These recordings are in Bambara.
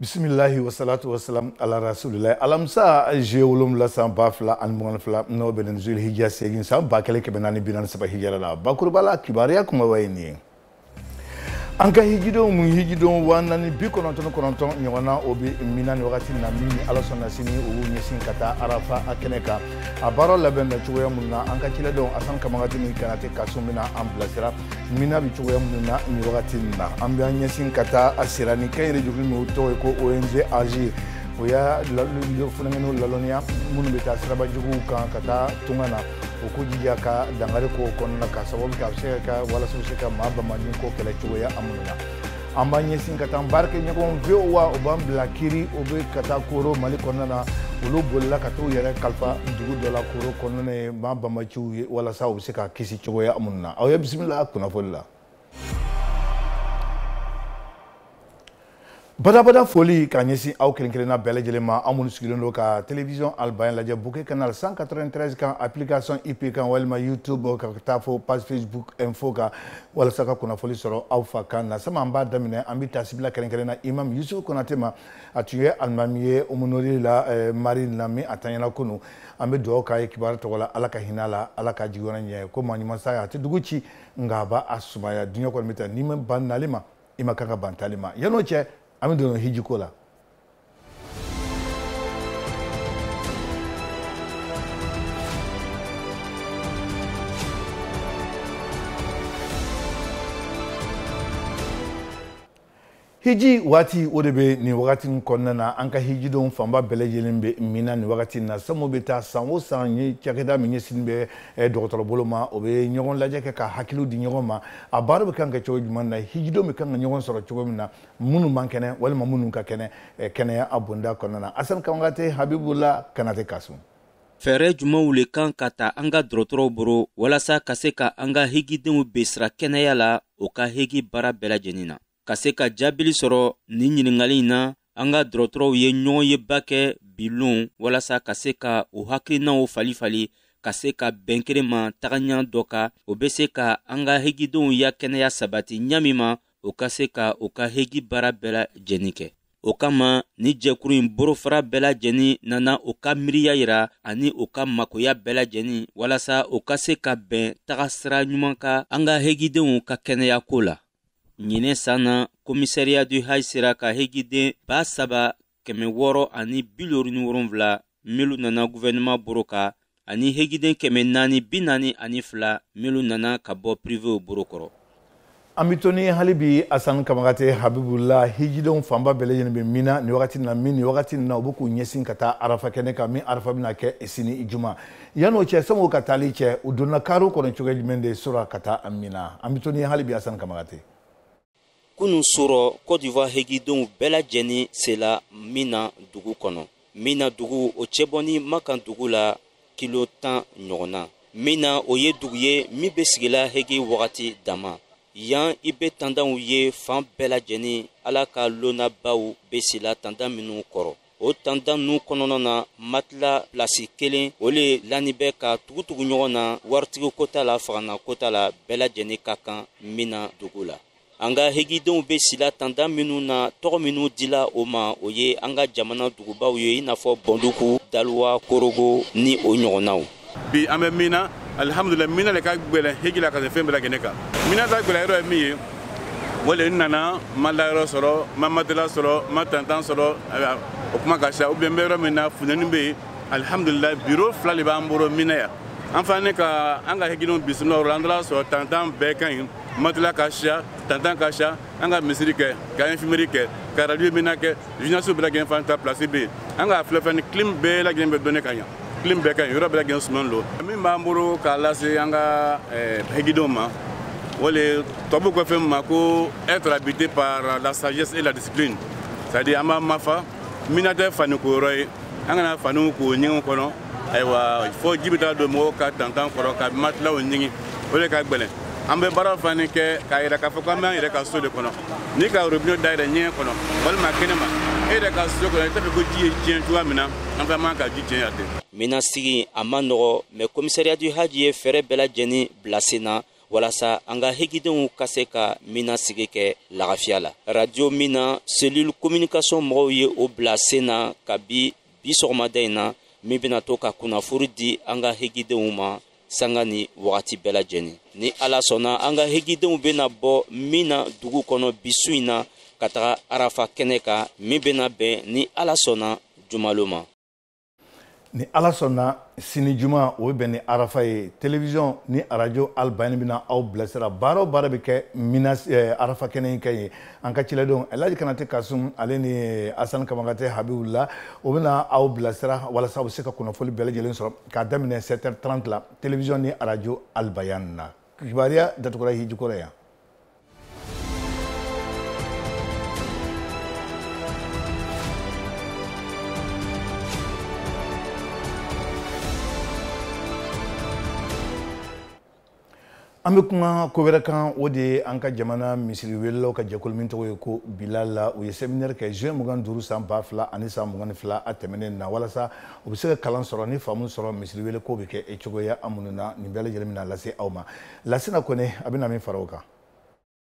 bisimilahi wasalatu wasalam ala rasulilayi alamisa juillet wolonwula san ba fila ani mugan fila n'o bɛnnen zul hijja seegin san ba kelen kɛmɛ naani bi naani saba hijjara la bakurubala kibaruya kumaba ye nin ye an ka hijidenw mun hijidenw waa naani bi kɔnɔntɔn ni kɔnɔntɔn ɲɔgɔn na o bɛ mina ni wagati na min ni ala sɔnna sini o b'u ɲɛsin ka taa arafa a kɛnɛ kan a baara labɛn bɛ cogoya minnu na an ka ciladenw asan kamagati ni kanate kasun bɛna an bilasira mina bɛ cogoya minnu na nin wagati nin na an bɛ an ɲɛsin ka taa a sira ni kɛ yɛrɛ jɛkulu min tɔgɔ ye ko ong agir o y'a funankɛninw lalɔnniya minnu bɛ taa siraba juguw kan ka taa tunga na u k'u jija ka dangari ko kɔnɔna ka sababu kɛ a bɛ se ka kɛ walasa u bɛ se ka maa bamanin ko kɛlɛ cogoya minnu na an b'an ɲɛsin ka taa an baarakɛ ɲɔgɔn voa u b'an bila kiri o bɛ ka taa koro mali kɔnɔna na olu bolila ka t'u yɛrɛ kalifa dugu dɔ la koro kɔnɔna ye maa banbaanciw ye walasa u bɛ se ka kisi cogoya minnu na aw ye bisimila kunnafoni la badabada foli k'a ɲɛsin aw kelen kelenna bɛɛ lajɛlen ma aw minnu sigilen don ka television albayan lajɛ bouquet canal 193 kan application ip kan walima youtube ka taa fo page facebook info kan walasa ka kunnafoli sɔrɔ aw fa kan na sama an b'a daminɛ an bɛ tasibila kɛrɛnkɛrɛn na imam yusuf konate ma a tun ye alimami ye umunori la eh, marine na min a tanyana kunu an bɛ dugawu k'a ye kibaru tɔgɔ la ala ka hinɛ a la ala ka jigiyɔrɔ ɲɛ ko maa ɲuman saya a tɛ dugu ci nka a b'a a sumaya diɲɛ kɔni bɛ taa n'i ma ban nali ma i man kan ka ban taali ma yan n'o cɛ an bɛ don hiji ko la hiji waati o de bɛ nin wagati in kɔnɔna na an ka hijidenw fanba bɛɛ lajɛlen bɛ mina nin wagati in na samu bɛ taa san o san ye cakɛda min ɲɛsinnen bɛ eh, dɔgɔtɔrɔbolo ma o bɛ ɲɔgɔn lajɛ kɛ ka hakiliw di ɲɔgɔn ma a baara bɛ kan ka kɛ cogo jumɛn na hijidenw bɛ kan ka ɲɔgɔn sɔrɔ cogo min na minnu man kɛnɛ walima minnu ka kɛnɛ eh, kɛnɛya a bonda kɔnɔna na asani kamagate habibula kanate kasun fɛɛrɛ jumɛnw le kan ka ta an ka dɔrɔtɔrɔw boro walasa ka se ka an ka hegidenw bilasira kɛnɛya la o ka hegi baara bɛɛ lajɛnin na ka se ka jaabili sɔrɔ nin ɲiningali in na an ka dɔrɔtɔrɔw ye ɲɔgɔnyeba kɛ bi lon walasa ka se ka u hakilinaw falen falen ka se ka bɛn kelen ma tagaɲa dɔ kan o be se ka an ka hegidenw ya kɛnɛya sabati ɲa min ma o ka se ka o ka hegi baara bɛɛ lajɛni kɛ o kama ni jɛkuru in borofara bɛɛ lajɛni nana o ka miiriya yira ani o ka makoya bɛɛ lajɛni walasa o ka se ka bɛn taga sira ɲuman ka an ka hegidenw ka kɛnɛya ko la ɲinɛ san na komisariya du haj sera ka hegiden ba saba kɛmɛ wɔɔrɔ ani bilori ni wolonwula milu nana guvɛnɛma boro ka ani hegiden kɛmɛ naani bi naani ani fila milu nana ka bɔ pirivew boro kɔrɔ an bɛ to ni hali bi asan kamagate habibula hijidenw fanba bɛɛ lajɛlen bɛ mina nin wagati na min nin wagati na u bɛ k'u ɲɛsin ka taa arafa kɛnɛ kan min arafa bɛna kɛ sini juma yan'o cɛ sani o ka taali cɛ u donna kariw kɔnɔ cogoya jumɛn de su rɔ ka taa mina an bɛ to ni hali bi asan kamagate kunu su rɔ kɔdiwa hegidenw bɛɛ lajɛni sela mina dugu kɔnɔ mina dugu o cɛ bɔni makan dugu la kilo tan ɲɔgɔn na mina o ye dugu ye min bɛ sigila hegi wagati dama yan i bɛ tandanw ye fan bɛɛ lajɛni ala ka lonanbaw bɛ sila tandan minnu kɔrɔ o tantan nu kɔnɔna na matila pilasi kelen o le lani bɛ ka tugutugu ɲɔgɔn na waritigi ko t'a la fagantan ko t'a la bɛɛ lajɛlen ka kan mina dugu la an ka hegidenw bɛ sila tantan minnu na tɔgɔ minnu dila o ma o ye an ka jamana dugubaw ye i n'a fɔ bɔnduku daluwa korogo ni o ɲɔgɔnnaw bi an bɛ mina alihamudulila mina le ka gbɛlɛn heji la ka se fɛn bɛɛ lajɛlen kan mina ta gbɛlɛn yɔrɔ ye min ye o le n nana n ma layɔrɔ sɔrɔ n ma matela sɔrɔ n ma tantan sɔrɔ o kuma ka ca ubiyɛn n bɛ yɔrɔ min na funteni bɛ yen alihamudulila biro fila de b'an bolo mina yan an fana ne ka an ka hejidenw bisimila yɔrɔ la an taara sɔrɔ tantan bɛɛ ka ɲi matela ka ca tantan ka ca an ka misiri kɛ ka infimeri kɛ ka radio mina kɛ jinasiw bɛɛ lajɛlen fana ta pilasi bɛ yen an k'a filɛ fɛn ni klim bɛɛ lajɛlen bɛ donni ka ɲa klim bɛɛ ka ɲi yɔrɔ bɛɛ ka suman don min b'an bolo k'a lase an ka eh, hegidenw ma o le tubabu ko fɛn ma ko être habité par la sagesse et la discipline c'est à dire an b'an mafa mina tɛ faniko yɔrɔ ye an kana faniw ko ɲɛgɛnw kɔnɔ ayiwa fo ji bɛ taa don mɔgɔw ka tantan kɔrɔ ka matilaw ɲigin o de ka gbɛlɛn an bɛ baara fana kɛ k'a yira k'a fɔ k'an b'an yɛrɛ ka so de kɔnɔ n'i ka robine dayɛlɛ ɲɛgɛn kɔnɔ walima kɛnɛ ma e yɛrɛ ka so kɔnɔ i t'a fɛ ko ji ye tiɲɛ cogoya min na an fana man ka ji tiɲɛ yan ten mina sigi a man nɔgɔ mɛ komisariya du haji ye fɛɛrɛ bɛɛ lajɛlen bila sen na walasa an ka hegidenw ka se ka mina sigi kɛ lagafiya la radio mina cellule communication mɔgɔw ye o bila sen na kabi bi sɔgɔmada in na min bɛna to ka kunnafoni di an ka hegidenw ma sanga ni wagati bɛɛ lajɛlen ni ala sɔnna an ka hejidenw bɛna bɔ mina dugu kɔnɔ bi su in na ka taga arafa kɛnɛ kan min bɛna bɛn ni ala sɔnna jumalon ma ni ala sɔnna sini juma o bɛ bɛn ni arafa ye telewisɔn ni arajo albayani bɛna aw bilasira baara o baara bɛ kɛ mina eh, arafa kɛnɛ in kan yen an ka ciladenw elaji kanate kasum ale ni eh, asan kamagate habibula o bɛna aw bilasira walasa u bɛ se ka kunnafoni bɛɛ lajɛlen sɔrɔ k'a daminɛ 7h30 la télévision ni radio Albayan na kibaruya datugura hijiko rɔ yan an bɛ kuma ko wɛrɛ kan o de ye an ka jamana misiri welelaw ka jɛkulu min tɔgɔ ye ko bilal u ye seminɛri kɛ juin mugan duuru san ba fila ani san mugan ni fila a tɛmɛnen na walasa u bɛ se ka kalan sɔrɔ ni faamu sɔrɔ misiri wele ko bɛ kɛ e cogoya an minnu na nin bɛɛ lajɛlen bɛna lase aw ma lasina kone a bɛna min fara o kan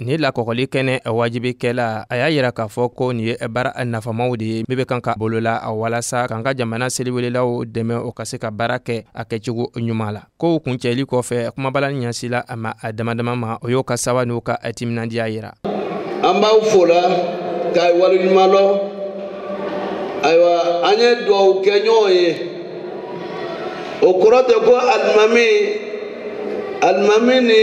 nin lakɔgɔli kɛnɛ wajibikɛla a y'a yira k'a fɔ ko nin ye baara nafamaw de ye min bɛ kan ka bolola walasa k'an ka jamana seliwelelaw dɛmɛ o ka se ka baara kɛ a kɛcogo ɲuman la kow kuncɛli kɔfɛ kumabala ɲɛsila a maa damadama ma o y'o ka sawa n'u ka timinandiya yira an b'aw fo la k'aw waleɲuman lɔn ayiwa an ye duwawu kɛ ɲɔgɔn ye o kɔrɔ tɛ ko alimami alimami ni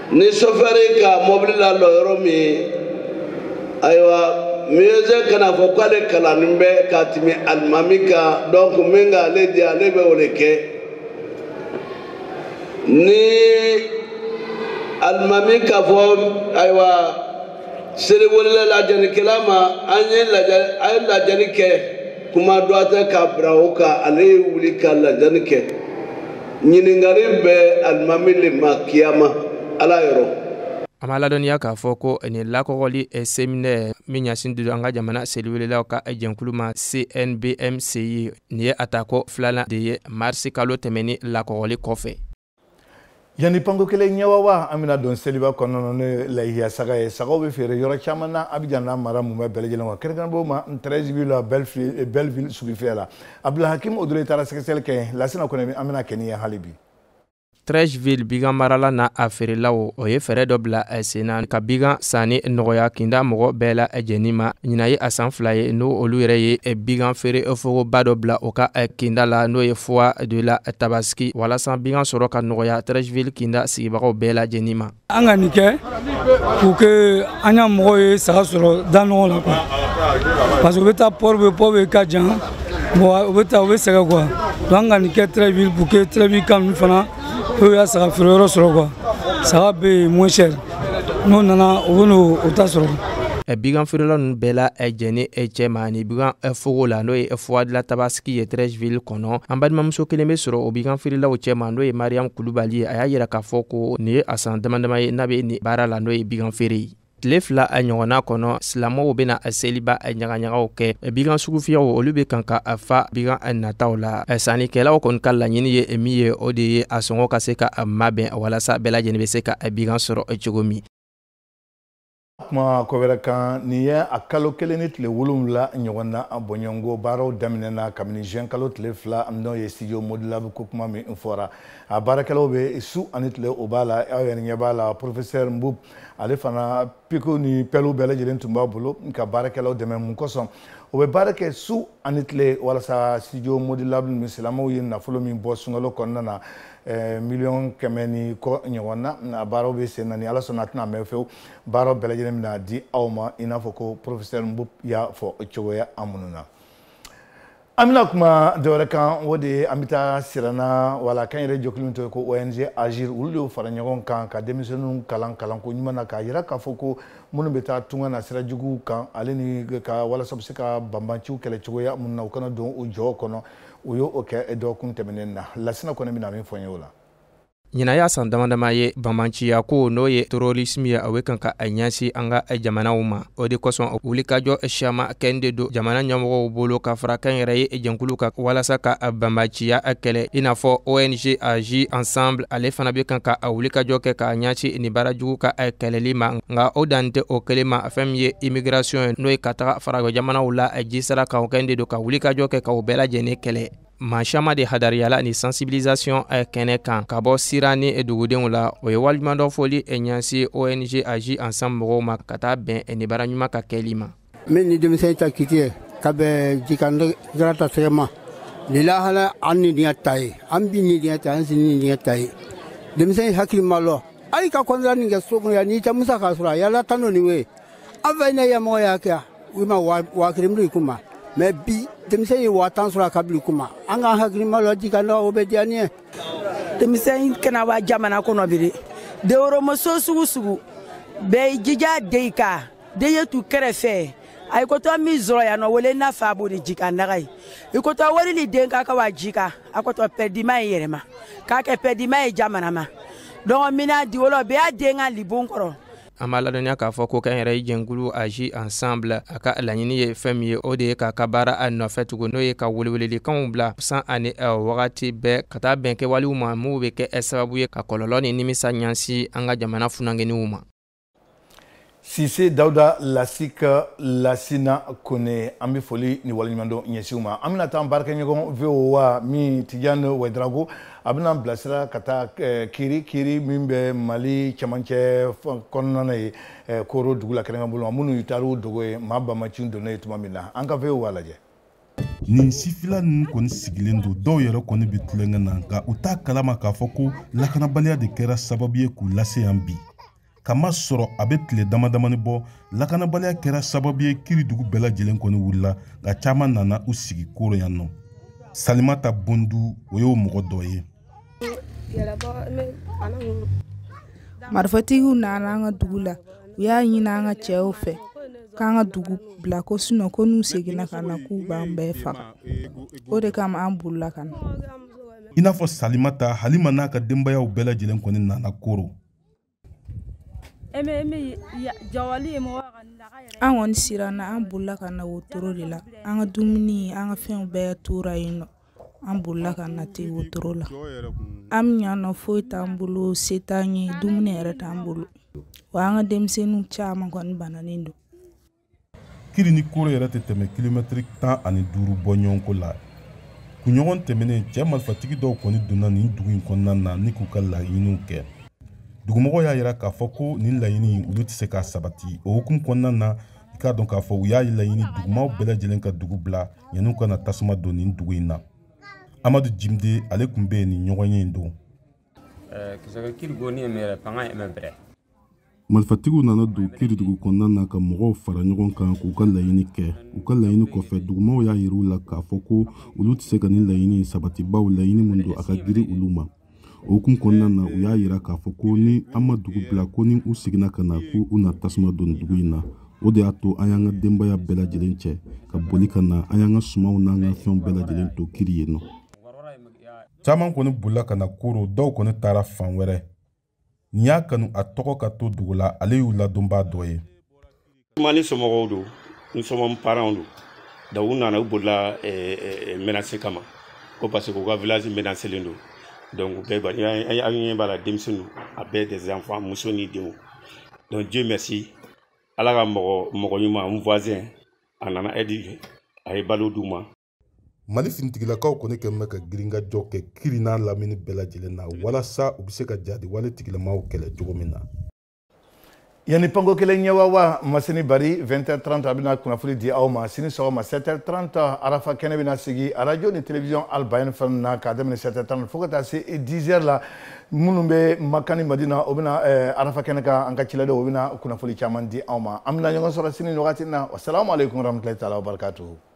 ni sofɛri ka mɔbili lalɔ yɔrɔ min ayiwa muezzin kana fɔ k'ale kalannen bɛ ka tɛmɛ alimami kan donc min ka ale diya ale bɛ o le kɛ ni alimami k'a fɔ ayiwa seliwelela lajanikɛla ma an ye la a ye lajani kɛ kuma dɔ tɛ ka bila o kan ale ye wuli ka lajani kɛ. ɲininkali bɛ alimami le ma kiyama ala yɔrɔ an b'a ladɔnniya k'a fɔ ko nin lakɔgɔli eh, seminɛri min ɲasin tun don an ka jamana seliwelelaw ka eh, jɛnkulu ma cnbmci nin ye a ta ko filanan de ye marisi kalo tɛmɛni lakɔgɔli kɔfɛ yanni panko kelen ɲɛwawa an bɛna don seliba kɔnɔna n'o ye lahiya saga ye sagaw bɛ feere yɔrɔ caman na abijan n'a mara mumɛ bɛɛ lajɛlen wa kɛrɛnkɛrɛnbɔ ma Treichville belleville sugufiyɛ la abdulhakim odoloye taara sɛgɛsɛgɛli kɛ yen lasina kone an bɛna kɛ ni ye hali bi Treichville bigan maralaw n'a feerelaw o ye fɛɛrɛ dɔ bila eh, sen na ka bigan sanni nɔgɔya kinda mɔgɔ bɛɛ lajɛnin ma ɲina ye a san fila ye n'o olu yɛrɛ ye eh, bigan feere fogoba dɔ bila o ka kinda la n'o ye foire de la tabaski walasa bigan sɔrɔ ka nɔgɔya Treichville kinda sigibagaw bɛɛ lajɛnin ma an ka nin kɛ pour que an ya mɔgɔw ye saga sɔrɔ da ɲɔgɔn la quoi parce que u bɛ taa port-bouët port-bouët ka jan bon u bɛ sɛgɛn quoi donc an ka nin kɛ treichville pour que treichville ka ninnu fana olu y'a saga feere yɔrɔ sɔrɔ quoi saga bɛ yen moins cher n'o nana u bɛna o ta sɔrɔ. bigan feerela ninnu bɛɛ lajɛnin cɛ ma ni bigan fogo la n'o ye foire de la tabas ki ye treichville kɔnɔ an balimamuso kelen be sɔrɔ o bigan feerelaw cɛma n'o ye mariyamu kulubali ye a y'a yira k'a fɔ ko nin ye a san damadama ye n'a be ni baara la n'o ye bigan feere ye tile fila a ɲɔgɔnna kɔnɔ silamɛw bena a seliba a ɲagaɲagaw kɛ bigan sugufiyɛw olu be kan ka a fa bigan a nataw la sannikɛlaw kɔni ka laɲini ye min ye o de ye a sɔngɔ ka se ka a mabɛn walasa bɛɛ lajɛlen be se ka a bigan sɔrɔ cogo min kuma ko wɛrɛ kan nin ye a kalo kelen ni tile wolonwula ɲɔgɔn na a bonjɔko baaraw daminɛna kabini juin kalo tile fila n'o ye studio modulable ko kuma min fɔra a baarakɛlaw bɛ su ani tile o b'a la aw yɛrɛ ɲɛ b'a la professeur mboup ale fana pikiw ni pɛliw bɛɛ lajɛlen tun b'a bolo ka baarakɛlaw dɛmɛ mun kosɔn o bɛ baara kɛ su ani tile walasa studio modulable min silamɛw ye nafolo min bɔ sunkalo kɔnɔna na Eh, miliyɔn kɛmɛ ni kɔ ɲɔgɔn na a baaraw bɛ sen na ni ala sɔnna a tɛna mɛn fewu baaraw bɛɛ lajɛlen bɛna di aw ma i n'a fɔ ko professeur mboup y'a fɔ cogoya a minnu na an bɛna kuma dɔwɛrɛ kan o de ye an bɛ taa sirana wala kan yɛrɛ jɛkulu min tɔgɔ ye ko ong agir olu de y'o fara ɲɔgɔn kan ka denmisɛnninw kalan kalanko ɲuman na k'a yira k'a fɔ ko minnu bɛ taa tunga na sira juguw kan ale ni ka walasa bɛ se ka banbanciw kɛlɛ cogoya minnu na u kana don u jɔw kɔnɔ u y'o kɛ dɔgɔkun tɛmɛnen na lasina kɔnɛ bɛna min fɔ an ye o la ɲinan y'a san dama dama ye banbanciya ko n'o ye terrorisme ye a bɛ kan ka a ɲɛsin an ka jamanaw ma o de kosɔn wulikajɔ siyaman kɛn de don jamana ɲɛmɔgɔw bolo ka fara kan yɛrɛ ye jɛnkulu kan walasa ka a banbanciya kɛlɛ i n'a fɔ ong agir ensemble ale fana bɛ kan ka a wulikajɔ kɛ k'a ɲɛsin nin baara jugu ka kɛlɛli ma nka o dan tɛ o kelen ma fɛn min ye immigration ye n'o ye ka taga farajɛ jamanaw la ji sira kan o kɛn de don ka wulikajɔ kɛ ka o bɛɛ lajɛlen kɛlɛ maa caman de hadariyala ni sensibilisation eh, kɛnɛ kan ka bɔ sirana dugudenw la o ye waleɲumandɔn foli eh, ɲɛsin ong agir ensemble mɔgɔw ma ka taa bɛn eh, nin baara ɲuman ka kɛli ma min ni denmisɛn ta kiti ye ka bɛ jikandara ta sɛgɛ ma nin lahala an ni diɲɛ ta ye an bi ni diɲɛ ta an sini diɲɛ ta ye denmisɛn hakili ma lɔ hali ka contrat nin kɛ so kɔnɔ yan n'i tɛ musaka sɔrɔ a yala tan n'o nin ye an fɛ ne yamɔgɔ y'a kɛ u ma waa kelen biri kun ma mais bi denmisɛn ye waa tan sɔrɔ a ka biri kun ma an k'an hakili ma lɔ jikandara o bɛ diya ni ye denmisɛn kana wa jamana kɔnɔ biri développement sugu sugu bɛɛ jija de i kan den ye tu kɛrɛfɛ a ye kotɔ min sɔrɔ yan nɔ wele n'a fa b'o de ji ka naga ye i kotɔ wari ni den ka ka wa ji ka a kotɔ pɛdima ye yɛrɛma k'a kɛ pɛdima ye jamana ma donc mina di wolo bɛɛ y'a den ka libon kɔrɔ an b'a ladɔnniya k'a fɔ ko kɛnyɛrɛye jɛnkulu agir ensemble a ka laɲini ye fɛn min ye o de ye k'a ka baara nɔfɛ tugun n'o ye ka welewelelikanw bila san ani wagati bɛɛ ka taa bɛn kɛwalew ma minw bɛ kɛ sababu ye ka kɔlɔlɔ ni nimisa ɲɛsin an ka jamana funankɛninw ma sise dawuda lasika lasina kone an be foli ni waleɲumandɔn ɲɛsin u ma an bena taa baarakɛɲɔgɔn voa min tijani wɛdrago a bena bilasira ka taa eh, kiri kiri min bɛ mali cɛmancɛ kɔnɔna ye eh, koro dugu la kɛrɛnkɛ bolo ma minnu taara u dogo yen maa banbaanciw donnen yen tuma min na an ka voa lajɛ nin sifila ninnu kɔni sigilen don dɔw yɛrɛ kɔni bɛ tulonkɛ na nka u t'a kalama k'a fɔ ko lakanabaliya de kɛra sababu ye k'u lase yan bi k'a masɔrɔ a bɛ tile damadamanin bɔ lakanabaliya kɛra sababu ye kiri dugu bɛɛ lajɛlen kɔni wulila nka caman nana u sigi koro yan nɔ salimata bondu o y'o mɔgɔ dɔ ye marifatigiw nana an ka dugu la u y'a ɲini an ka cɛw fɛ k'an ka dugu bila ko sinon ko n'u seginna ka na k'u b'an bɛɛ faga o de kama an bolila ka na i n'a fɔ salimata halima n'a ka denbayaw bɛɛ lajɛlen kɔni nana koro an kɔni siranna an bolila ka na wotoro de la an ka dumuni an ka fɛnw bɛɛ tora yen nɔ an bolila ka na ten wotoro la an bɛ yan nɔ foyi t'an bolo se t'an ye dumuni yɛrɛ t'an bolo wa an ka denmisɛnninw caman kɔni bananen don kiri ni koro yɛrɛ tɛ tɛmɛ kilomɛtiri tan ani duuru bɔ ɲɔgɔn ko la kunɲɔgɔn tɛmɛnen cɛ marifatigi dɔw kɔni donna nin dugu in kɔnɔna na ni k'u ka laɲiniw kɛ dugumɔgɔw y'a yira k'a fɔ ko nin laɲini olu tɛ se ka sabati o hukumu kɔnɔna na i k'a dɔn k'a fɔ u y'a laɲini dugumaw bɛɛ lajɛlen ka dugu bila yanni u ka na tasuma don nin dugu in na amadu jimde ale tun bɛ yen nin ɲɔgɔnye in don marifatigiw nana don kiri dugu kɔnɔna na ka mɔgɔw fara ɲɔgɔn kan k'u ka laɲini kɛ u ka laɲini kɔfɛ dugumaw y'a yir'u la k'a fɔ ko olu tɛ se ka nin laɲini sabati bawo laɲini min don a ka giri olu ma o hukumu kɔnɔna na u y'a yira k'a fɔ ko ni an ma dugu bila ko ni u seginna ka na ko u na tasuma don dugu in na o de y'a to an y'an ka denbaya bɛɛ lajɛlen cɛ ka boli ka na an y'an ka sumanw n'an ka fɛnw bɛɛ lajɛlen to kiri yen nɔ caman kɔni bolila ka na koro dɔw kɔni taara fan wɛrɛ nin y'a kanu a tɔgɔ ka to dogo la ale y'u ladonbaa dɔ ye n somɔgɔw don n somɔgɔw paranw don donc u nana u bolila eh, eh, eh, menase kama ko parce que u ka village menaselen don donc bɛɛ aw ɲɛ b'a la denmisɛn don a bɛɛ des enfants muso ni denw donc dieu merci ala ka mɔgɔ mɔgɔ ɲuman n voisin a nana aide a ye balo d'u ma mali finitigilakaw kɔni kɛlen bɛ ka girinkajɔ kɛ kiri n'a lamini bɛɛ lajɛlen na walasa u bɛ se ka jatigɛwale tigilamaw kɛlɛ cogo min na yanni panko kelen ɲɛ awa masini bari 20h30 a bɛna kunnafoni di aw ma sini sɔgɔma 7h30 arafa kɛnɛ bɛna sigi arajo ni television albayen fana na k'a daminɛ 7h30 fo ka taa se 10h la minnu bɛ maka ni madina o bɛna eh, arafa kɛnɛ kan an ka ciladenw o bɛna kunnafoni caman di aw ma an bɛna ɲɔgɔn sɔrɔ sini nin wagati na wasalamu aleykum warahmatulahi taala wabarakatuhu